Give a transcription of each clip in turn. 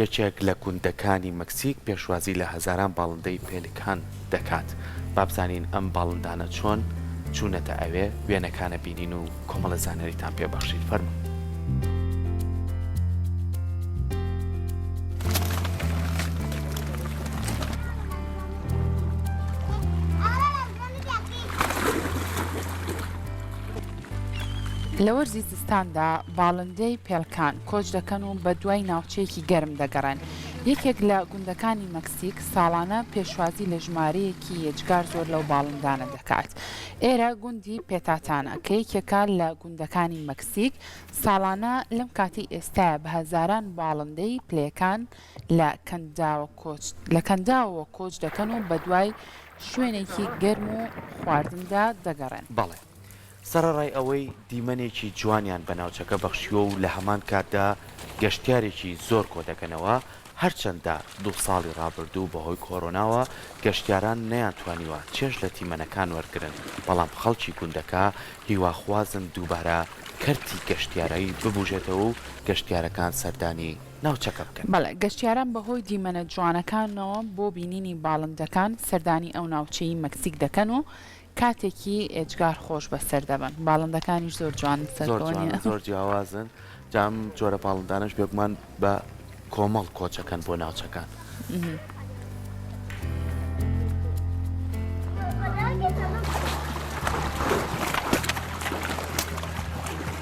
یەکێک لە گوندەکانی مەکسیک پێشوازی لە هەزاران باڵندەی پێلیکان دەکات، با بزانین ئەم باڵندانە چۆن چوونەتە ئەوێ، وێنەکانە بینین و کۆمەڵە زانیاریتان پێ بەخشین، فەرموون. لە وەرزی زستاندا باڵندەی پێلکان کۆچ دەکەن و بە دوای ناوچەیەکی گەرم دەگەڕێن. یەکێک لە گوندەکانی مەکسیک ساڵانە پێشوازی لە ژمارەیەکی یەجگار زۆر لەو باڵندانە دەکات. ئێرە گوندی پێتاتانا کە یەکێکە لە گوندەکانی مەکسیک، ساڵانە لەم کاتی ئێستایە بە هەزاران باڵندەی پلەکان لە کەنداوەوە کۆچ دەکەن و بە دوای شوێنێکی گەرم و خواردندا دەگەڕێن. بەڵێ سەرەڕای ئەوەی دیمەنێکی جوانیان بە ناوچەکە بەخشیوە و لە هەمان کاتدا گەشتیارێکی زۆر کۆدەکەنەوە، هەرچەندە دوو ساڵی ڕابردوو بەهۆی کۆرۆناوە گەشتیاران نەیانتوانیوە چێژ لە دیمەنەکان وەرگرن، بەڵام خەڵکی گوندەکە هیواخوازن دووبارە کەرتی گەشتیارایی ببوژێتەوە و گەشتیارەکان سەردانی ناوچەکە بکەن. بەڵێ، گەشتیاران بەهۆی دیمەنە جوانەکانەوە بۆ بینینی باڵندەکان سەردانی ئەو ناوچەی مەکسیک دەکەن و کاتێکی ئێجگار خۆش بەسەر دەبەن باڵندەکانیش زۆر جوانن سەرکەونیان زۆر جیاوازن جام جۆرە باڵندانش بێگومان بە کۆمەڵ کۆچەکەن بۆ ناوچەکان.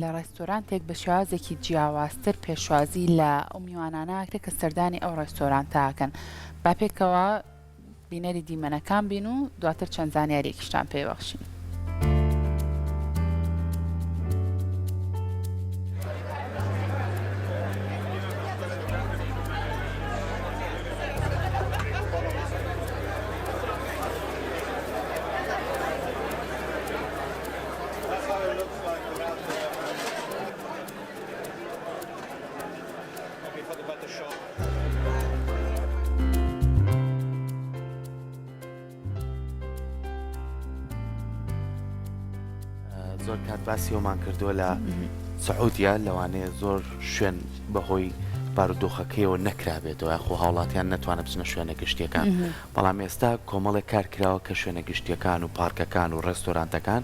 لە ڕێستۆرانتێک بە شێوازێکی جیاوازتر پێشوازی لە ئەو میوانانە ئەکرێت کە سەردانی ئەو ڕێستۆرانتە ئەکەن. با پێکەوە بینەری دیمەنەکان بین و دواتر چەند زانیاریەکیشتان پێ بەخشین. زۆر کات باسی ئەومان کردووە لە سعودیا لەوانەیە زۆر شوێن بەهۆی بارودۆخەکەیەوە نەکرابێتەوە یاخۆ هاوڵاتیان نتوانێت بچنە شوێنە گشتیەکان بەڵام ئێستا کۆمەڵێک کار کراوە کە شوێنە گشتیەکان و پارکەکان و ڕێستۆرانتەکان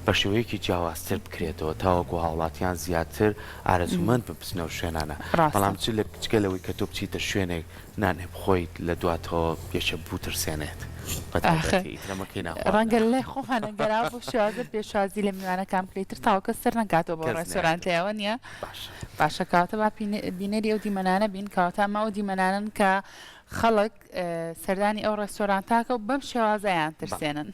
بە شێوەیەکی جیاوازتر بکرێتەوە تاوەکو هاوڵاتیان زیاتر ئارەزوومەند بن بچنە ئەو شوێنانە، ڕاستە. بەڵام چ لە جگە لەوەی کە تۆ بچیتە شوێنێک نانێ بخۆیت لە دواتەوە یەکێ بوترسێنێت بە ئاخر تایبەتی ئیتر ئەمە کەی ناخواردنە. ڕەنگە لە لای خۆمان ئەگەرا بۆ شازە پێشوازی لە میوانەکان بکرێ ئیتر تاوە کەس سەر نەکاتەوە بۆ کەس ڕێستۆرانت نایەتەوە لێوە نیە؟ باشە. باشە کەواتە با پینە بینەری ئەو دیمەنانە بین کەواتە ئەمە ئەو دیمەنانەن کە خەڵک سەردانی ئەو ڕێستۆرانتاکە و بەم شێوازە ئەیان بەڵێ. ترسێنن.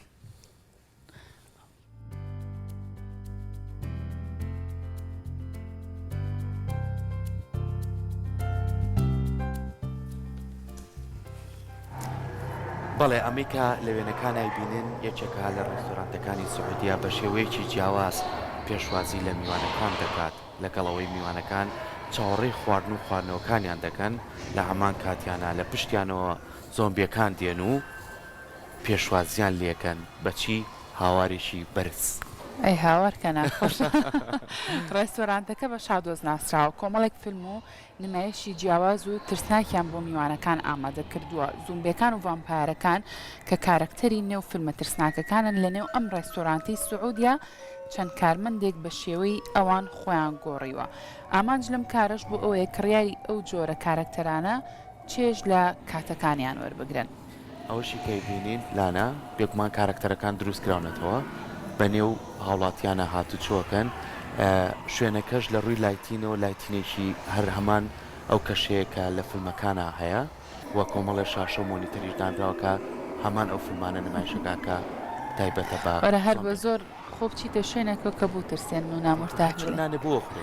بەڵێ ئەمریکا لە وێنەکانای بینن یەکێکە لە ڕێستۆرانتەکانی سعودیا بە شێوەیەکی جیاواز پێشوازی لە میوانەکان دەکات لەگەڵەوەی میوانەکان چاوەڕێی خواردن و خواردنەوەکانیان دەکەن لە هەمان کاتیانە لە پشتیانەوە زۆمبیەکان دێن و پێشوازیان لێکەن بەچی هاوارێکی بەرز. ئەی هاوار کە ناخۆشە. ڕێستۆرانتەکە بە شادۆز ناسراوە، کۆمەڵێک فیلم و نمایشی جیاواز و ترسناکیان بۆ میوانەکان ئامادە کردووە، زومبێکان و ڤامپایەرەکان کە کارەکتەری نێو فیلمە ترسناکەکانن لەنێو ئەم ڕێستۆرانتەی سعودیە چەند کارمەندێک بە شێوەی ئەوان خۆیان گۆڕیوە ئامانج لەم کارەش بۆ ئەوەیە کڕیاری ئەو جۆرە کارەکتەرانە چێژ لە کاتەکانیان وەربگرن. ئەوەشی کە ئەیبینین لانە بێگومان کارەکتەرەکان دروست کراونەتەوە بە نێو هاوڵاتیانە هاتوچۆکەن شوێنەکەش لە ڕووی لایتینەوە لایتینێکی هەر هەمان ئەو کەشەیە کە لە فیلمەکانە هەیە و کۆمەڵێ شاشە و مۆنیتەریش دانراوەکە هەمان ئەو فیلمانە نمایشەکە کە تایبەتە بە وەرە هەر بە زۆر خۆ بچیتە شوێنەکە کە بوو ترسێن و نامرتاح نانێ بۆ خورێ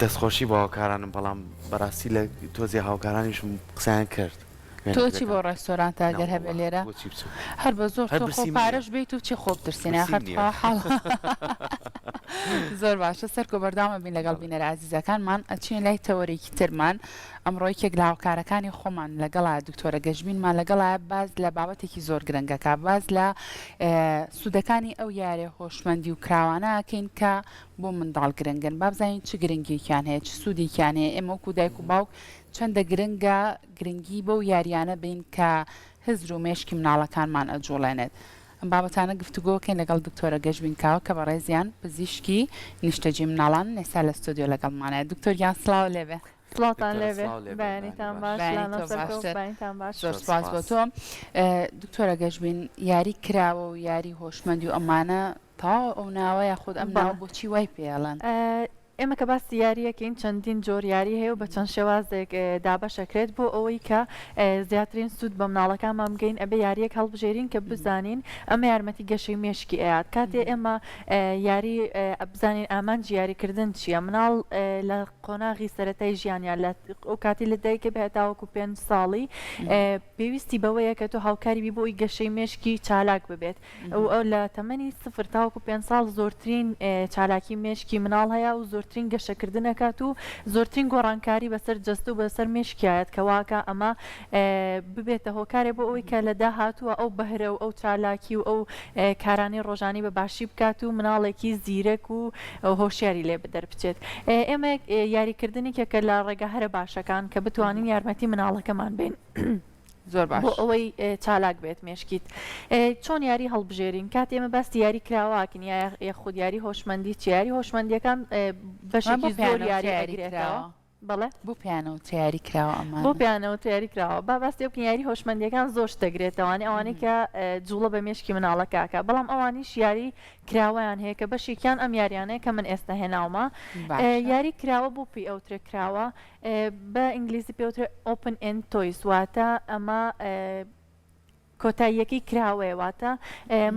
دەستخۆشی بۆ هاوکارانم بەڵام بەڕاستی لە تۆزی هاوکارانیشم قسەیان کرد تۆچی بۆ ڕێستۆران تا گەر هەبێ لێرە هەر بە زۆر پارەش بێت و چی خۆب ترسینە زۆر باشە سەر کۆ بەرداوامە بین لەگەڵ بینەر ئازیزەکانمان ئەچین لای تەوەرێکی ترمان ئەمڕۆی کێک لە هاوکارەکانی خۆمان لەگەڵا دکتۆرە گەشبینمان لەگەڵا باز لە بابەتێکی زۆر گرنگەکە باز لە سوودەکانی ئەو یاریە هۆشمەندی و کراوانە ئەکەین کە بۆ منداڵ گرنگن با بزانین چ گرنگیەکیان هەیە چ سوودێکیان هەیە ئێمە وەکو دایک و باوک چەندە گرنگە گرنگی بەو یاریانە بین کە هزر و مێشکی مناڵەکانمان ئەجوڵێنێت ئەم بابەتانە گفتوگۆکەین لەگەڵ دکتۆرە گەشبین کاوە کە بەڕێزیان پزیشکی نیشتەجی مناڵان نێسا لە ستۆدیۆ لەگەڵمانەیە دکتۆر گیان سڵاو لێبێ سڵاوتان دکتۆرە لێبێ سڵاو لێبێ، بەیانیتان بەیانی باش باش. لانە بەیانیتان سەرکەوت باشتر. بەیانیتان باش زۆر زۆر سوپاس بۆ سوپاس. تۆ اه، دکتۆرە گەشبین یاری کراوە و یاری هۆشمەندی و ئەمانە تەواوە ئەو ناوە یاخود ئەم بەڵێ. ناوە بۆچی وای پێ ئەڵێن ئە، ئێمە کە باسی یاریەکەین چەندین جۆر یاری هەیە و بە چەند شێوازێک اه، دابەش ئەکرێت بۆ ئەوەی کە اه، زیاترین سوود بە مناڵەکانمان بگەین ئەبێ یاریەک هەڵبژێرین کە بزانین ئەمە یارمەتی گەشەی مێشکی ئەیات کاتێ ئێمە اه، یاری اه، بزانین ئامانجی یاری کردن چیە مناڵ اه، لە قۆناغی سەرەتای ژیانیان لە ئەو کاتی لە دایکە بێ تاوەکو پێنج ساڵی پێویستی بەوەیە کە تۆ هاوکاری بی بۆی گەشەی مێشکی چالاک ببێت ئەو ئەو لە تەمەنی سفر تاوەکو پێ ساڵ زۆرترین چالاکی مێشکی مناڵ هەیە و زۆرترین گەشەکردنەکات و زۆرترین گۆڕانکاری بەسەر جەست و بەسەر مێشکایەت کەواکە ئەمە ببێتە هۆکارێ بۆ ئەوی کە لە داهاتووە ئەو بەهرە و ئەو چالاکی و ئەو کارانی ڕۆژانی بە باشی بکات و مناڵێکی زیرەک و هۆشیاری لێ دەربچێت ئێمە یاریکردنی کێکە لە ڕێگە هەرە باشەکان کە بتوانین یارمەتی مناڵەکەمان بین. زۆر باش بۆ ئەوەی چالاک بێت مێشکیت چۆن یاری هەڵبژێرین کات ئێمە باس دیاری کراواکن یاخود یاری هۆشمەندی چیاری هۆشمەندیەکان بەشێکی زۆر یاری یاریکراوە. بەڵێ. بۆ پیانەوە تەیاری کراوە ئەمانە؟ بۆ پیانەوە تەیاری کراوە. با باس لێ بکەین یاری هۆشمەندیەکان زۆر شت دەگرێتەوە یانی ئەوانەی کە جوڵە بە مێشکی مناڵەکە ئەکا بەڵام ئەوانیش یاری کراوەیان هەیە کە بەشێکیان ئەم یاریانەیە کە من ئێستا هێناومە باشە. یاری کراوە بۆ پی ئەو ترێ کراوە بە ئینگلیزی پێوترێ ئۆپن ئێن تۆیس واتە ئەمە کۆتاییەکەی کراوەیە واتە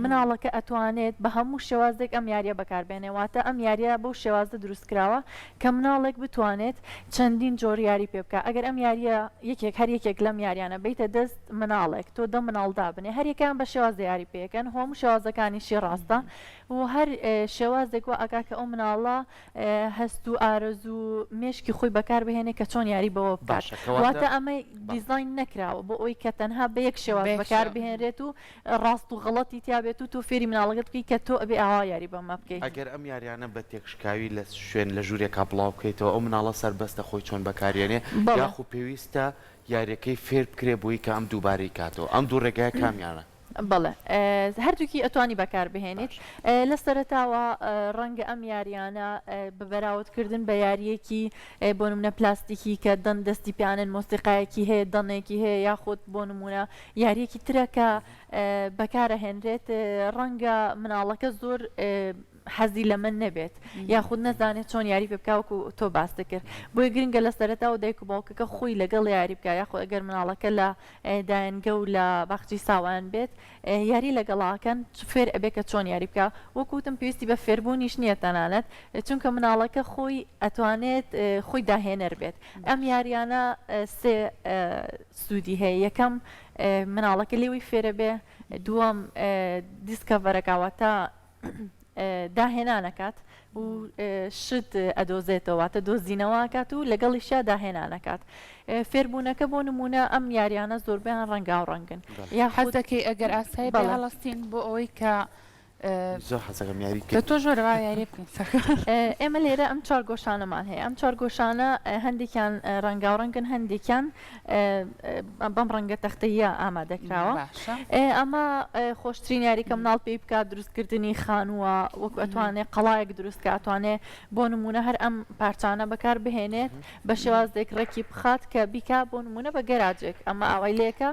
مناڵەکە ئەتوانێت بە هەموو شێوازێک ئەم یاریە بەکاربێنێ واتە ئەم یاریە بەو شێوازە دروست کراوە کە مناڵێک بتوانێت چەندین جۆر یاری پێ بکە ئەگەر ئەم یاریە یەکێک هەر یەکێک لەم یاریانە بیتە دەست مناڵێک تۆ دە مناڵدا بنێ هەریەکان بە شێواز یاری پێکەن هەموو شێوازەکانیشی ڕاستە و هەر شێوازێک و ئەگا کە ئەو مناڵە هەست و ئارەزو و مێشکی خۆی بەکار بهێنێ کە چۆن یاری بەوە بکات باشە کەواتە واتە ئەمەی بەڵێ. دیزاین نەکراوە بۆ ئەوی کە تەنها بە یەک شێواز بەیەک بەکار شێواز. بهێنرێت و ڕاست و غەڵەتی تیا بێت و تۆ فێری مناڵەکەت بکەی کە تۆ ئەبێ ئاوا یاری بەمە بکەیت ئەگەر ئەم یاریانە بە تێکشکاوی لە شوێن لە ژوورێکا بڵاو بکەیتەوە ئەو مناڵە سەربەستە خۆی چۆن بەکاریێنێ بەڵێ. یاخو پێویستە یاریەکەی فێر بکرێ بۆی کە ئەم دووبارەی کاتەوە ئەم دوو ڕێگایە کامیانە؟ بەڵێ هەردووکی ئەتوانی بەکاربهێنیت لە سەرتاوە ڕەنگە ئەم یاریانە بە بەراوتکردن بە یاریەکی بۆ منە پلاستیکی کە دەن دەستی پیانن مۆسیقایەکی هەیە دەنێکی هەیە یاخود بۆ نمونە یاریەکی ترەکە بەکارە هێنرێت ڕەنگە مناڵەکە زۆر حەزی لەمە نەبێت یاخود نەزانێت چۆن یاری پێ بکە وەکو تۆ باست کرد بۆی گرنگە لە سەرەتا و دایک و باوکەکە خۆی لەگەڵ یاری بکە یاخۆ ئەگەر مناڵەکە لە دایەنگە و لە باخچی ساوان بێت یاری لەگەڵاکەن فێر ئەبێ کە چۆن یاری بکە وەکوتم پێویستی بە فێربوونیش نییە تەنانەت چونکە مناڵەکە خۆی ئەتوانێت خۆی داهێنەر بێت ئەم یاریانە سێ سوودی هەیە یەکەم مناڵەکە لێوی فێرە بێ دووەم دیسکەڤەرەکەواتە داهێنان ئەکات و شت ئەدۆزێتەوە واتە دۆزینەوە ئەکات و لەگەڵیشیا داهێنان ئەکات فێربوونەکە بۆ نمونە ئەم یاریانە زۆربیان ڕەنگا و ڕەنگن بەڵێ. یا حەز دەکەی ئەگەر ئاسایی بڵێ. بە هەڵەستین بۆ ئەوەی کە زۆر حەزەکەم یاری کە بکەین تۆش وەرە با یاری بکەین سەرکەوتوو ئێمە لێرە ئەم چوار گۆشانەمان هەیە ئەم چوار گۆشانە هەندێکیان ڕەنگاوڕەنگن هەندێکیان بەم ڕەنگە تەختەیە ئامادەکراوە ئەمە خۆشترین یاریکە مناڵ پێی بکات دروستکردنی خانووە وەکو ئەتوانێت قەڵایەک دروستکە ئەتوانێت بۆ نمونە هەر ئەم پارچانە بەکار بهێنێت بە شێوازێک ڕێکی بخات کە بیکا بۆ نمونە بە گەراجێک ئەمە ئەوەی لێکە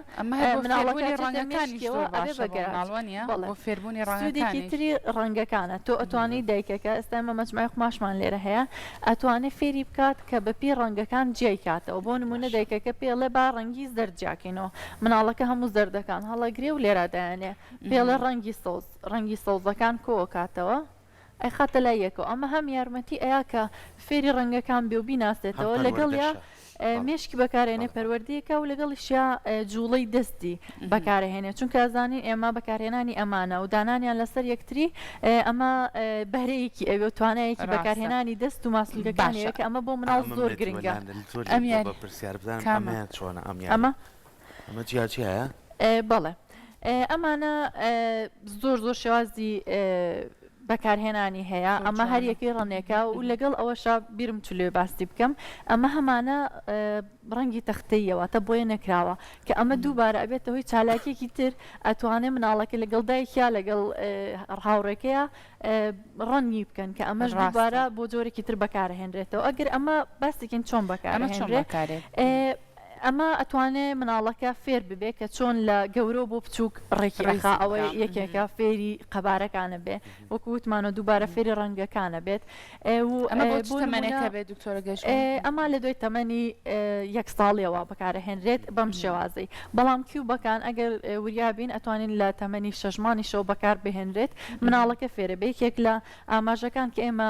مناڵەکانی ڕەنگەکانیشێکی تری ڕەنگەکانە تۆ ئەتوانی دایکەکە ئێستا مە مەجموعی قماشمان لێرە هەیە ئەتوانێ فێری بکات کە بە پێی ڕەنگەکان جیای کاتەوە بۆ نموونە دایکەکە پێڵێ با ڕەنگی زەرد جیاکەینەوە مناڵەکە هەموو زەردەکان هەڵەگرێ و لێرا دایەنێ پێڵێ ڕەنگی سەوز ڕەنگی سەوزەکان کۆوە کاتەوە ئەیخاتە لای یەکەوە ئەمە هەم یارمەتی ئەیا کە فێری ڕەنگەکان بێ و بیناسێتەوە لەگەڵیا مێشکی بەکارێنێ پەروەردەیەکە و لەگەڵیشیا جوڵەی دەستی بەکارهێنێ چونکە ئەزانین ئێمە بەکارهێنانی ئەمانە و دانانیان لەسەر یەکتری ئەمە بەهرەیەکی ئەوێ توانایەکی بەکارهێنانی دەست و ماسولگەکانەیە کە ئەمە بۆ مناڵ زۆر گرنگە ئەمیان پرسیار بزان ئەمیان چۆنە ئەمیان ئەمە ئەمە جیاجیایە؟ بەڵێ ئەمانە زۆر زۆر شێوازی بەکارهێنانی هەیە ئەمە هەر یەکەی ڕەنێکە و لەگەڵ ئەوەشە بیرم چ لێ باستی بکەم ئەمە هەمانە ڕەنگی تەختەیەوە تە بۆیە نەکراوە کە ئەمە دووبارە ئەبێتە هۆی چالاکێکی تر ئەتوانێ مناڵەکە لەگەڵ دایکیا لەگەڵ ڕاوڕێکەیە ڕەنگی بکەن کە ئەمەش دووبارە بۆ جۆرێکی تر بەکارهێنرێتەوە ئەگەر ئەمە باستێکین چۆن بەکارێت ئەمە ئەتوانێ مناڵەکە فێر ببێ کە چۆن لە گەورە بۆ بچووک ڕێکی ئەخا ئەوەی یەکێکە فێری قەبارەکانە بێ وەکو وتمانە دووبارە فێری ڕەنگەکانە بێت ئەمە لە دوای تەمەنی یەک ساڵیەوە بەکارەهێنرێت بەم شێوازی بەڵام کیوبەکان ئەگەر وریابین ئەتوانین لە تەمەنی شەژمانی شەو بەکار بهێنرێت مناڵەکە فێرە بێکێک لە ئاماژەکان کە ئێمە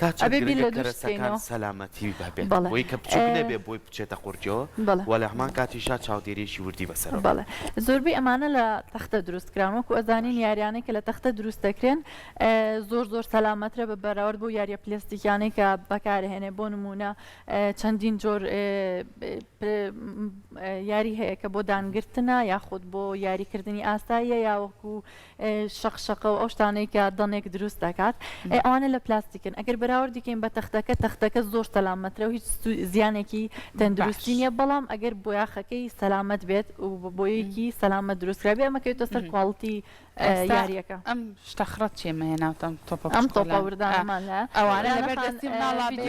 تا چەند ئەبێ بیر گرنگە لە دووش بکەینەوە کەرەسەکان سەلامەتی هەبێت بەڵێ بۆی کە بچووک نەبێ بۆی بچێتە قورجۆ بەڵێ و لە هەمان کاتیشا چاودێریەکی وردی بەسەرە بکە. بەڵێ زۆربەی ئەمانە لە تەختە دروست کران وەکو ئەزانین باشە. یاریانەی کە لە تەختە دروست دەکرێن زۆر زۆر سەلامەترە بە بەراورد بۆ یاریە پلستیکیانەی کە بەکارهێنێ بۆ نمونە چەندین جۆر یاری هەیە کە بۆ دانگرتنە یاخود بۆ یاریکردنی ئاساییە یاوەکو شەق شەقە و ئەو شتانەی کە دەنێک دروست دەکات ئەی ئەوانە لە پلاستیکن ئەگەر بەراوردیکەین بە تەختەکە تەختەکە زۆر سەلامەترە و هیچ زیانێکی تەندروستی نیە بەڵام ئەگەر بۆیاخەکەی سەلامەت بێت و بۆیەکی سەلامە دروستکرابێ ئەمەکەوێتە سەر کوالڵتی یاریەکە ئەم شتە خڕەت چێ مەهێناوتەم تۆپ ئەم تۆپەوردانمان لە ئەوانە لەبەردەستی مناڵ هەبوو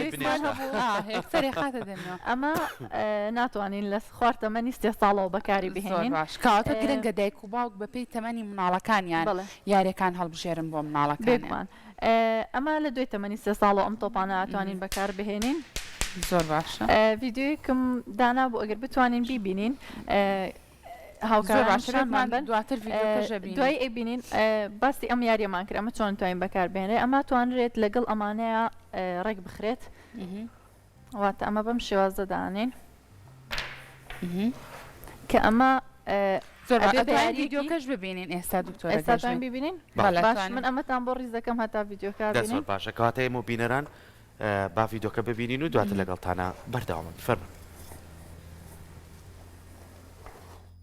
ئەمە ناتوانین لە خوار تەمەنی سێ ساڵەوە بەکاری بهێنین. زۆر باش کەواتە گرنگە دایک و باوک بە پێی تەمەنی مناڵەکانیان یاریەکان هەڵبژێرن بۆ مناڵەکان. بێگومان ئەمە لە دوای تەمەنی سێ ساڵەوە ئەم تۆپانە ئەتوانین بەکار بهێنین. زۆر باشە ڤیددیویکم دانا بوو ئەگەر بتوانین بیبینین هاوکارباشمان بن دواتر دوای ئەبینین باسی ئەم یاریەمان کرد ئەمە چۆن توانین بەکار بێنێ ئەمە توانرێت لەگەڵ ئەمانەیە ڕێک بخرێت واتە ئەمە بەم شێوازە دانین کە ئەمە ڤیددیوکەش ببینین ئێستا دکتۆرستان ببینین باش من ئەمەتان بۆ ڕیزەکەم هەتا ڤیددیوکە باشە کاتەیە و بینەران با ڤیددیوکە ببینین و دواتر لەگەڵتانە بەرداوامن فەرمە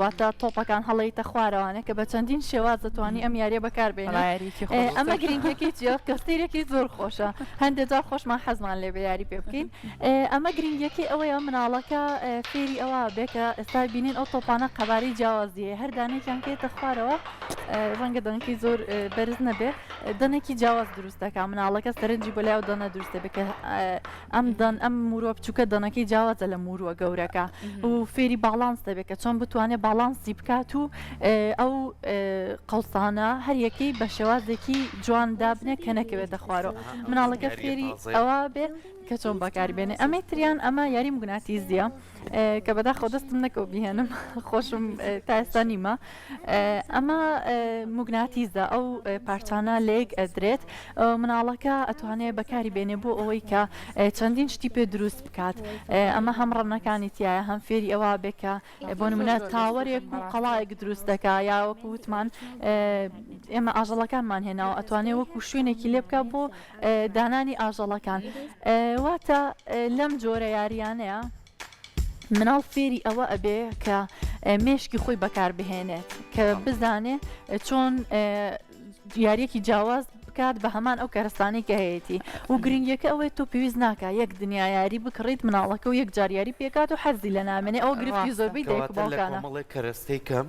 واتە تۆپەکان هەڵەیتە خوارەوانە کە بە چەندین شێواز دەتوانانی ئەم یاریە بەکاربێنەیەکی ئەمە گرنگەکەی جیاف کە سیرێکی زۆر خۆشە هەندێک جار خۆشمان حەزمان لێ بە یاری پێ بکەین ئەمە گرنگەکەی ئەوەیە مناڵەکە فێری ئەوە بێکە ئێستا بینین ئەو تۆپانە قەباری جیاوازیە هەر دانێکیان کێتە خوارەوە ڕەنگە دەنگی زۆر بەرز نەبێت دەنێکی جیاواز دروستەکە مناڵەکە سەرنجی بۆ لای و دەنە دروستە بکە ئەم دەن ئەم موروە بچووکە دەنەکەی جیاوازە لە موروە گەورەکە و فێری باڵانس دەبێت کە چۆن بتوانێت باڵانسی بکات و ئەو قەڵسانە هەریەکەی بە شێوازێکی جوان دابنێ کە نەکەوێتە خوارەوە مناڵەکە فێری ئەوە بێ کە چۆن بەکاری بێنێ ئەمەی تریان ئەمە یاری مگوناتیزیە کە بەدا خۆدەستم نەکەو بهێنم خۆشم تا ئێستا نیمە ئەمە موگناتیزە ئەو پارچانە لەیەک ئەدرێت مناڵەکە ئەتوانێت بەکاری بێنێ بۆ ئەوەی کە چەندین شتی پێ دروست بکات ئەمە هەم ڕەنەکانی تایە هەم فێری ئەوە بێکە بۆ منە تاوەرێک و قەڵایەک دروست دەکا یا وەکو وتمان ئێمە ئاژەڵەکانمان هێناوە ئەتوانێت وەکو شوێنێکی لێ بکە بۆ دانانی ئاژەڵەکان واتە لەم جۆرە یاریانەیە مناڵ فێری ئەوە ئەبێ کە مێشکی خۆی بەکاربهێنێت کە بزانێ چۆن یاریەکی جیاواز بکات بە هەمان ئەو کارستانی کە هەیەی و گرنگیەکە ئەوەی تۆ پێویست ناکە یەک دنیا یاری بکڕیت مناڵەکە و یەک جاریاری پێکات و حەزی لە نامێنێ ئەو گرفتی زۆربەی دەڵێک کەرەستەی کەم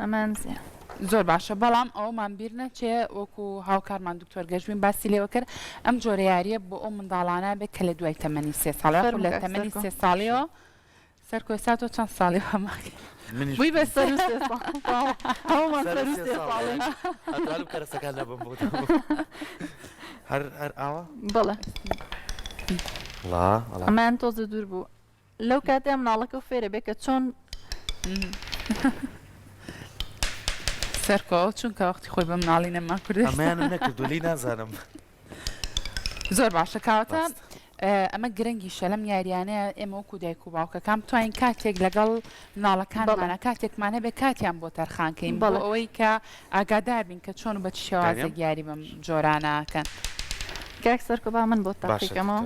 ئەمان زۆر باشە بەڵام ئەوەمان بیر نەچێ وەکو هاوکارمان دکتۆر گەشبین باسی لێوە کرد ئەم جۆرە یاریە بۆ ئەو منداڵانە بێت کە لە دوای تەمەنی سێ ساڵ لە تەمەنی سێ ساڵیەوە سەرکۆی سات و چەند ساڵی هەماکە بووی بە سەر کەرەسەکان لەبم بوو هەر ئاوە بڵێ من تۆزە دوور بوو لەو کاتەیە مناڵەکە و فێرە بێ کە چۆن سەرکۆ چونکە وەختی خۆی بە مناڵی نەما کردێت ئەمەیانم نەکردو لی نازانم زۆر باشە کاوەتە ئەمە گرنگی شەلم یاریانەیە ئێمە وەکو دایک و باوکەکان توانین کاتێک لەگەڵ مناڵەکانمانە کاتێکمان هەبێ کاتیان بۆ تەرخانکەین بەڵ ئەوەی کە ئاگادار بین کە چۆن بە شێوازە یاری بەم جۆرانەکەن کاک سەرکۆبا من بۆ تاقیکەمەوە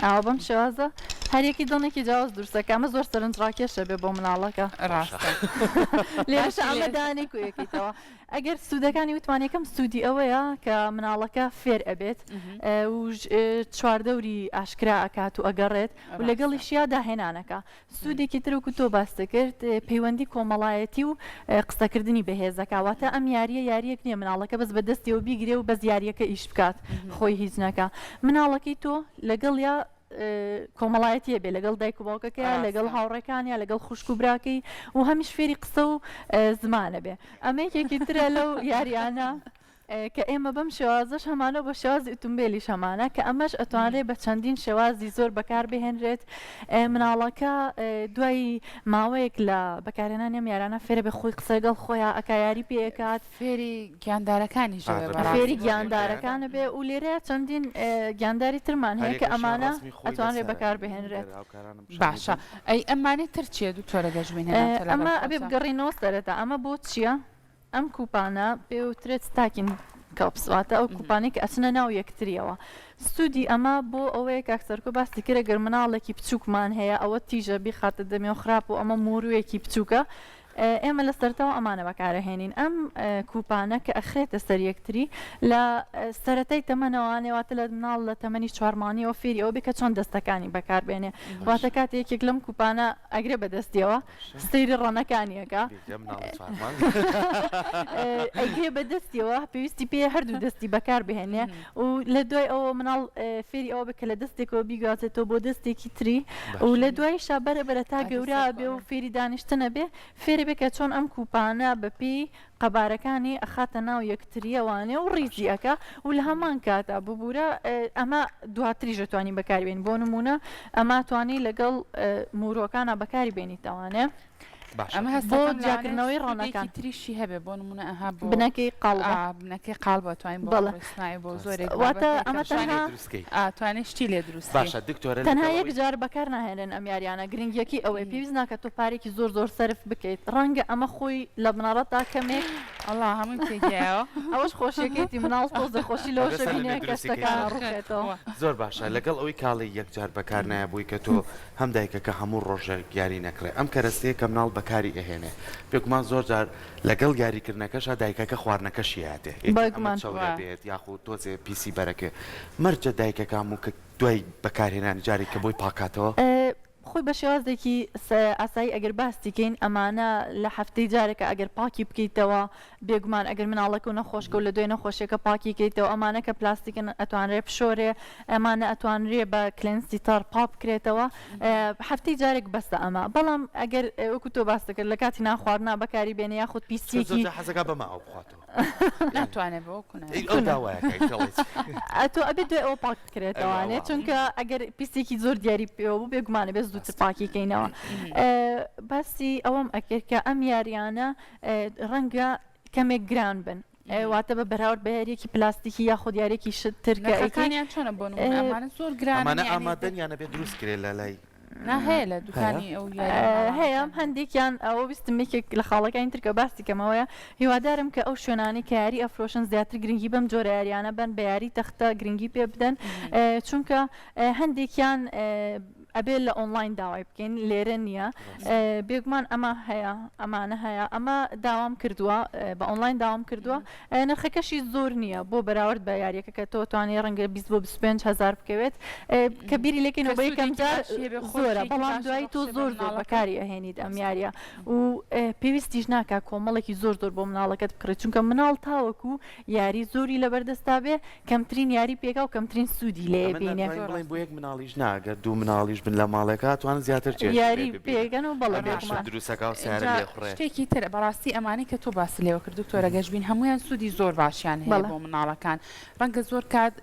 ئاوا بەم شێوازە هەریەکی دڵنێکی جیاواز دروستەکە ئەمە زۆر سەرنج ڕاکێشە بێ بۆ مناڵەکە ڕاستە لێش ئامەدانی کوێکیتەوە ئەگەر سوودەکانی وتوانەکەم سوودی ئەوەیە کە مناڵەکە فێر ئەبێت چواردەوری ئاشکرا ئەکات و ئەگەڕێت و لەگەڵیشیا داهێنانەکە سودێکی تر وەکو تۆ باست دەکرد پەیوەندی کۆمەڵایەتی و قسەکردنی بەهێزەکە واتە ئەم یاریە یاریەک نییە مناڵەکە بەس بە دەستیەوە بیگرێ و بەس یاریەکە ئیش بکات خۆی هیچ نەکە مناڵەکەی تۆ لەگەڵ یا کۆمەڵایەتیە بێ لەگەڵ دایک و باوکەکەی لەگەڵ هاوڕێکانیا لەگەڵ خوشک و براکەی و هەمیش فێری قسە و زمانە بێ ئەمەیەکێکی ترە لەو یاریانە کە ئێمە بەم شێوازەش هەمانە و بە شێوازی ئوتومبێلیش هەمانە کە ئەمەش ئەتوانرێت بە چەندین شێوازی زۆر بەکار بهێنرێت مناڵەکە دوای ماوەیەک لە بەکارێنانی ئەم یارانە فێرە بە خۆی قسە لەگەڵ خۆیان ئەکا یاری پێ ئەکات فێری گیاندارەکانی ژە بە ڕاستی. فێری گیاندارەکانە بێ و لێرەیە چەندین ئێ، گیانداری ترمان هەیە کە هەریەکەشیان ئەمانە ڕەسمی خۆی ئەتوانرێت لەسەرە. بەکار بهێنرێت هاوکارانم پیشان باشە دەدەن. ئەی ئەمانەی تر چییە دکتۆرە گەشبینە ناوچە لە ئەمە ئەبێ بەفرۆشە؟ بگەڕێینەوە سەرەتا ئەمە بۆ چییە؟ ئەم کوپانە پێوترێت ستاکین کەڵپس واتە ئەو کوپانەی کە ئەچنە ناو یەکتریەوە سوودی ئەمە بۆ ئەوەیە کاک سەرکۆ باسی کرێ گەر مناڵێکی بچووکمان هەیە ئەوە تیژە بیخاتە دەمێ و خراپ و ئەمە موروویەکی بچووکە ئێمە لە سەرتەوە ئەمانە بەکارەهێنین ئەم کوپانە کە ئەخرێتە سەر یەکتری لە سەتای تەمەنەوانێواتە لە مناڵ لە تەمەنی چوارمانیەوە فێری ئەو بکە چۆن دەستەکانی بەکاربێنێ واتە کات یەکێک لەم کوپانە ئەگرێ بەدەستیەوە سەیری ڕەنەکانیەکە ئەگێ بە دەستیەوە پێویستی پێ هەردوو دەستی بەکار بهێنێ و لە دوای ئەوە مناڵ فێری ئەوە بکە لە دەستێکەوە بیگوازێتەوە بۆ دەستێکی تری و لە دوای شابەرە بەرە تا گەورا بێ و فێری دانیشتنە بێ فێری بکە چۆن ئەم کوپانە بەپی قەبارەکانی ئەخاتە ناو یەکتریەوانێ و ڕیزی ئەکا و لە هەمان کاتا ببوورە ئەمە دواتریشە توانی بەکاری بێن بۆ نمونە ئەما توانی لەگەڵ مورۆکانە بەکاری بێنی تەوانێ جاکردنەوەی ڕۆنەکان تریشی هەبێ بۆ نمونە ئەها بنەکەی قاڵ بنەکەی قاڵ بەتوانین بەڵسنای بۆ زۆرێک واتە ئەمە بکەی. ئا توانێ شتی لێ دروست کەی. باشە دکتۆرە لەگەڵ تەنها ئەوەی. یەک جار بەکار ناهێنرێن ئەم یاریانە گرنگیەکەی ئەوەیە پێویست ناکات تۆ پارێکی زۆر زۆر سەرف بکەیت ڕەنگە ئەمە خۆی لە بنەڕەتدا کەمێک ئەڵا هەموویم تێ گیایەوە. ئەوەش خۆشیەکەیتی مناڵ تۆزێ خۆشی لەوەشە بەدەستە لە نوێ بینێ کە دروستی کەی. شتەکانە ئاخ ڕوخێتەوە. توخوا. زۆر باشە لەگەڵ ئەوەی کاڵی یەک جار بەکار نایەبووی کە تۆ هەم دایکەکە هەموو ڕۆژێک یاری نەکڕێ ئەم کەرەستەیە کە مناڵ بەکاری ئەهێنێ بێگومان زۆر جار لەگەڵ یاریکردنەکەشا دایکەکە خواردنەکە شیایەتێ ئێدی ئەمە بەگومان چەورە خوا. بێت یاخو تۆزێ پیسی بەرەکێ مەرجە دایکەکە هەموو کە دوای بەکارهێنانی جارێک کە بۆی پاکاتەوە. خۆی بە شێوازێکی سە ئاسایی ئەگەر باستی کەین ئەمانە لە هەفتەی جارێکە ئەگەر پاکی بکەیتەوە بێگومان ئەگەر مناڵەکەو نەخۆشکەو لە دوای نەخۆشیەکە پاکی کەیتەوە ئەمانە کە پلاستیکن ئەتوانرێ بشۆرێ ئەمانە ئەتوانرێ بە کلێنسی تەڕ پاک بکرێتەوە هەفتەی جارێک بەسە ئەمە بەڵام ئەگەر وەکو تۆ باس دەکرد لە کاتی ناخواردنا بەکاری بێنە یاخود پیسیەکی حەزەکە بەماوە بخواتەوە ناتوانێت بۆ ئەتۆ ئەبێت دوێ ئەو پاک بکرێتەوانێت چونکە ئەگەر پیسێکی زۆر دیاری پێوە بوو بێگومانە بێت دوو پاکی کەینەوە باسی ئەوەم ئەکرد کە ئەم یاریانە ڕەنگە کەمێک گران بن واتە بە بەراورد بە یاریەکی پلاستیکی یاخود یاریێکی شت تر کە ئەیکانیان چۆنە بۆن ئەمانە زۆر گرانە ئامادەن یانە بێ دروست کرێ لە لای هەیە لە دوکانی ئەو هەیە هەندێکیان ئەوە ویستمێکێک لە خاڵەکانی ترکە باسی کەمەوەیە هیوادارم کە ئەو شوێنانی کە یاری ئەفرۆشن زیاتر گرنگی بەم جۆرە یاریانە بن بە یاری تەختە گرنگی پێ بدەن چونکە هەندێکیان ئەبێ لە ئۆنڵاین داوای بکەین لێرە نییە بێگومان ئەمە هەیە ئەمانە هەیە ئەمە داوام کردووە بە ئۆنلاین داوام کردووە نرخەکەشی زۆر نییە بۆ بەراورد بە یاریەکە کە تۆ توانێ ڕەنگە 20 بۆ 25 هزار بکەوێت کە بیری لەکەین بە یەکەم جار خۆرە بەڵام دوای تۆ زۆر زۆر بەکاری ئەهێنیت ئەم یاریە و پێویستیش ناکە کۆمەڵێکی زۆر زۆر بۆ مناڵەکەت بکڕێت چونکە مناڵ تاوەکو یاری زۆری لەبەر دەستا بێ کەمترین یاری پێکا و کەمترین سوودی لێ بینێ. ئەمە ناتوانین بڵێین بۆ یەک مناڵیش نا گەر دوو مناڵیش بن لە ماڵێکا ئەتوانن زیاتر چێژی لێ یاری ببینن پێکەن و بەڵێ ئەمێش بێگومان. دروست ئەکا و سەیارە لێ ئینجا ئەخوڕێ. شتێکی تر بەڕاستی ئەمانەی کە تۆ باست لێوە کرد دکتۆرە گەشبین هەموویان سوودی زۆر باشیان هەیە بەڵێ. بۆ مناڵەکان ڕەنگە زۆر کات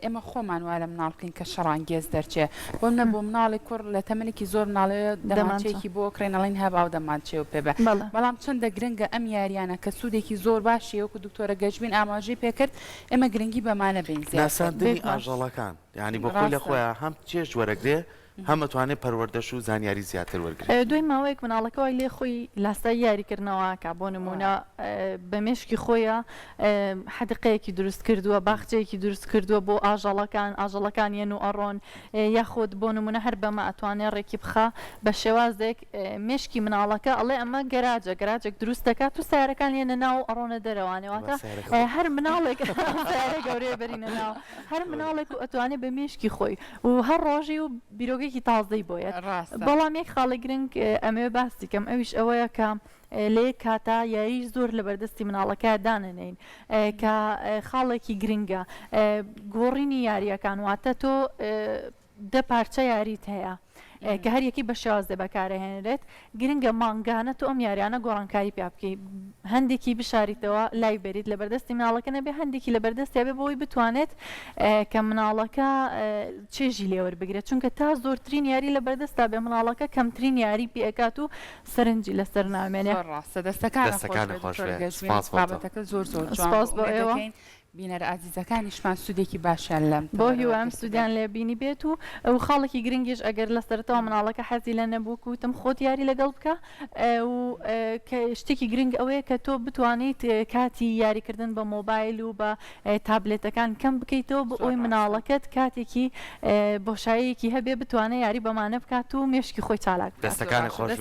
ئێمە خۆمان وا لە مناڵ بکەین کە شەڕانگێز دەرچێ بۆ نە بۆ مناڵی کوڕ لە تەمەنێکی زۆر مناڵێ دەمانچەیەکی بۆ کرێن ئەڵین هە باو دەمانچێ و پێ بە بەڵام چەندە گرنگە ئەم یاریانە کە سوودێکی زۆر باشی وەکو دکتۆرە گەشبین ئاماژەی پێکرد ئێمە گرنگی بەمانە بین ناساندنی ئاژەڵەکان یعنی بۆ خۆی لە خۆیان هەم چێژ وەرەگرێ هەم ئەتوانێت پەروەردەش و زانیاری زیاتر وەرگرێت. دوای ماوەیەک مناڵەکە وای لێ خۆی لاسایی یاریکردنەوە ئەکا بۆ نموونە بە مێشکی خۆیا حەدیقەیەکی دروست کردووە باخچەیەکی دروست کردووە بۆ ئاژەڵەکان ئاژەڵەکان یەن و ئەڕۆن یاخود بۆ نمونە هەر بەمە ئەتوانێ ڕێکی بخا بە شێوازێک مێشکی مناڵەکە ئەڵێ ئەمە گەراجە گەراجێک دروست دەکات و سارەکان یەنە ناو ئەڕۆنە دەرەوانەوەتە هەر مناڵێک گەورەیە بەرینە ناو هەر مناڵێک و ئەتوانێ بە مێشکی خۆی و هەر ڕۆژی و بیرۆکەێکی تازەی بۆیە بەڵام یەک خاڵی گرنگ ئەمەوێ باسی کەم ئەویش ئەوەیە کە لێ کاتا یاریش زۆر لە بەردەستی مناڵەکە دانەنین کە خاڵێکی گرنگە گۆڕینی یاریەکان واتە تۆ دە پارچە یاریت هەیە کە هەریەکی بە شێوازێ بەکارەهێنرێت گرنگە مانگانە تۆ ئەم یاریانە گۆڕانکاری پیا بکەی هەندێکی بشاریتەوە لای بەریت لە بەردەستی مناڵەکە نەبێ هەندێکی لە بەردەستیا بێ بۆی بتوانێت کە مناڵەکە چێژی لێوەربگرێت چونکە تا زۆرترین یاری لە بەردەستا بێ مناڵەکە کەمترین یاری پێکات و سەرنجی لەسەر نامێنێ ڕاستە دەستەکان دەستەکان خۆش بێت سپاس بۆ تۆ. بابەتەکە زۆر زۆر جوان بوو. سپاس بۆ ئێوە. بینەرە ئازیزەکانیشمان سودێکی باشیان لەم تەوەرەوە گرت بێت. بۆ هیوام سودیان لێ بینی بێت و خاڵێکی گرنگیش ئەگەر لە سەرەتاوە مناڵەکە حەزی لە نەبوو کە وتم خۆت یاری لەگەڵ بکە و کە شتێکی گرنگ ئەوەیە کە تۆ بتوانیت کاتی یاری کردن بە مۆبایل و بە تابلێتەکان کەم بکەیتەوە بۆ ئەوەی مناڵەکەت کاتێکی بۆشاییەکی هەبێ بتوانێ یاری بەمانە بکات و مێشکی خۆی چالاک بکات. دەستەکانت خۆش بێت